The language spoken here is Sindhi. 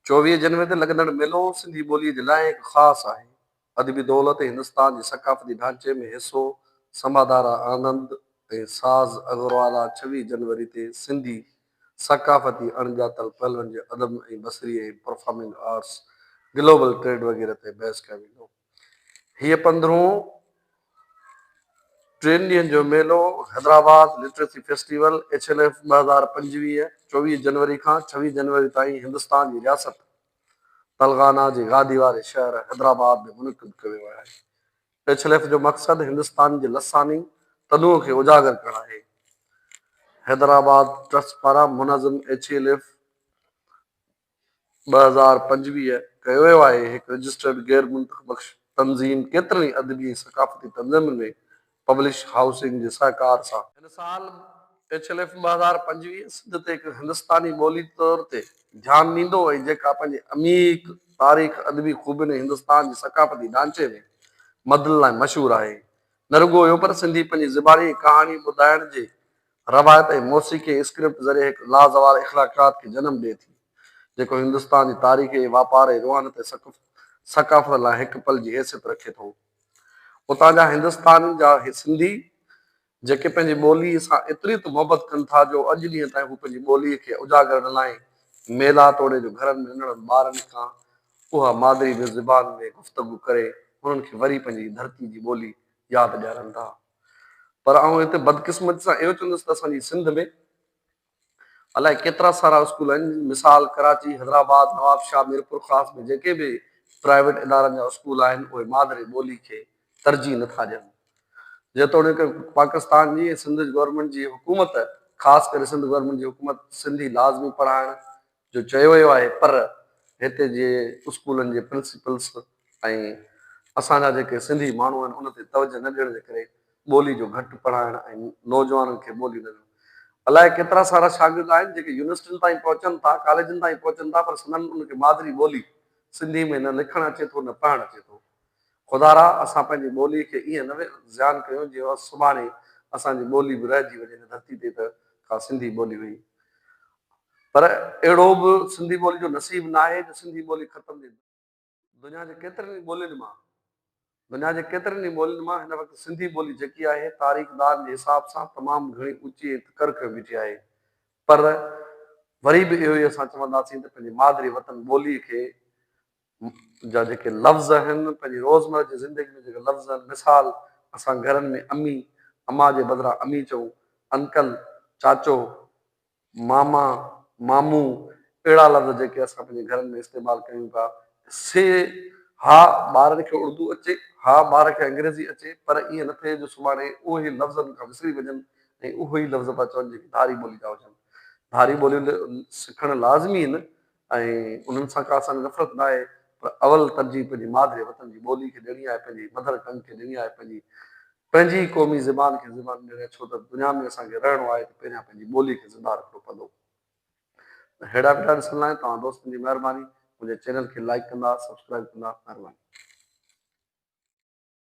چوويهه جنوري تي لڳندڙ ميلو سنڌي ٻوليء جي لاء هڪ خاص آهي. ادبي دولت ۽ هندستان جي ثقافتي ڍانچي ۾ حصو سمادارا آنند ۽ ساز اغروالا ڇويهه جنوري تي سنڌي ثقافتي اڻڄاتل پهلوئن جي ادب ۽ بصري ۽ پرفارمنگ آرٽس، گلوبل ٽريڊ وغيره تي بحث ڪيو ويندو. هيء پندرهون ٽن ڏينهن جو ميلو Hyderabad literacy festival, H L F, ٻه هزار پنجويهه، چوويهه جنوري کان ڇويهه جنوري تائين هندستان جي رياست تلغانا جي گادي واري شهر حيدرآباد ۾ منعقد ڪيو ويو آهي. ايڇ ايل ايف جو مقصد هندستان جي لساني تنوع کي اجاگر ڪرڻ آهي. حيدرآباد ٽرسٽ پاران منظم ايڇ ايل ايف، ٻه هزار پنجويهه ڪيو ويو آهي. هڪ رجسٽرڊ غير منطق بخش تنظيم ڪيترن ئي ادبي ۽ ثقافتي تنظيمن ۾ پبلش هائوسنگ جي سهڪار سان، هن سال ايڇ ايل ايف ٻه هزار پنجويهه سنڌ تي هڪ هندستاني ٻولي طور تي ڌيان ڏيندو ۽ جيڪا پنهنجي عميق تاريخ، ادبي خوبين ۽ هندستان جي ثقافتي ڍانچي ۾ مدن لاء مشهور آهي. نه رڳو اهو پر سنڌي پنهنجي زباني ڪهاڻي ٻڌائڻ جي روايت ۽ موسيقي اسڪرپٽ ذريعي هڪ لازوال اخلاقيات کي جنم ڏئي ٿي، جيڪو هندستان جي تاريخي، واپار ۽ روحانيت ۽ ثقافت لاء هڪ پل جي حيثيت رکي ٿو. اتان جا هندستانين جا اهي سنڌي، جيڪي پنهنجي ٻوليء سان ايتري ته محبت ڪن ٿا جو اڄ ڏينهن تائين هو پنهنجي ٻوليء کي اجاڳر نه لاهي ميلا توڙي جو گهرن ۾ ننڍڙن ٻارن کان اها مادري زبان ۾ گفتگو ڪري انهن کي وري پنهنجي ڌرتي جي ٻولي ياد ڏيارن ٿا. پر آئون هتي بدقسمتي سان اهو چوندس ته اسان جي سنڌ ۾ الائي ڪيترا سارا اسڪول آهن، مثال ڪراچي، حيدرآباد، نوابشاهه، ميرپورخاص ۾ جيڪي به پرائيويٽ ادارن جا اسڪول آهن اهي مادري ٻولي کي ترجيح نه ٿا ڏين. جيتوڻيڪ پاڪستان جي ۽ سنڌ گورنمينٽ جي حڪومت خاص ڪري سنڌ گورنمينٽ جي حڪومت سنڌي لازمي پڙهائڻ جو چيو ويو آهي پر هتي جي اسڪولن جي پرنسپلس ۽ اسان جا جيڪي سنڌي ماڻهو آهن ان تي توجه نه ڏيڻ جي ڪري ٻولي جو گهٽ پڙهائڻ ۽ نوجوانن کي ٻولي نه الاء ڪيترا سارا شاگرد آهن جيڪي يونيورسٽين تائين پهچن ٿا ڪاليجن تائين پهچن ٿا پر سندن ان کي مادري ٻولي سنڌي ۾ نه لکڻ اچي ٿو نه پڙهڻ اچي ٿو خدا را اسان پنهنجي ٻولي کي ائين نه زيان ڪيون جي اها سڀاڻي اسان جي ٻولي به رهجي وڃي هن ڌرتي تي ته ڪا سنڌي ٻولي هئي پر اهڙو به سنڌي ٻولي جو نصيب ناهي جو سنڌي ٻولي ختم جي دنيا جي ڪيترين ئي ٻولين مان دنيا جي ڪيترين ئي ٻولين مان هن وقت سنڌي ٻولي جيڪي آهي تاريخ دان جي حساب سان تمام گهڻي اوچي ۽ تڪر ڪيو بيٺي آهي پر وري به اهو ئي اسان چونداسين ته پنهنجي مادري وطن ٻولي کي جا جيڪي لفظ آهن، پنهنجي روزمره جي زندگي ۾ جيڪي لفظ آهن، مثال، اسان گهرن ۾ امي، اما جي بدران امي چئون، انڪل، چاچو، ماما، مامون، اهڙا لفظ جيڪي اسان پنهنجي گهرن ۾ استعمال ڪيون پيا، سي ها ٻارن کي اردو اچي، ها ٻار کي انگريزي اچي، پر ائين نه ٿئي جو سڀاڻي اهي لفظ ان کان وسري وڃن ۽ اهي ئي لفظ پيا چون جيڪي ڌاري ٻولي جا هجن. ڌاري ٻوليون سکڻ لازمي آهن، ۽ انهن سان ڪا اسان کي نفرت ناهي پر اول ترجيح پنهنجي مادري وطن جي ٻولي کي ڏيڻي آهي پنهنجي مدر ٽنگ کي ڏيڻي آهي پنهنجي پنهنجي ئي قومي زبان کي زبان ڏيڻي آهي ڇو ته دنيا ۾ اسان کي رهڻو آهي ته پهريان پنهنجي ٻولي کي زنده رکڻو پوندو ته هيڊا ويڊا ڏسڻ لاء توهان دوستن جي مهرباني منهنجي چينل کي لائيڪ ڪندا سبسڪرائيب ڪندا مهرباني.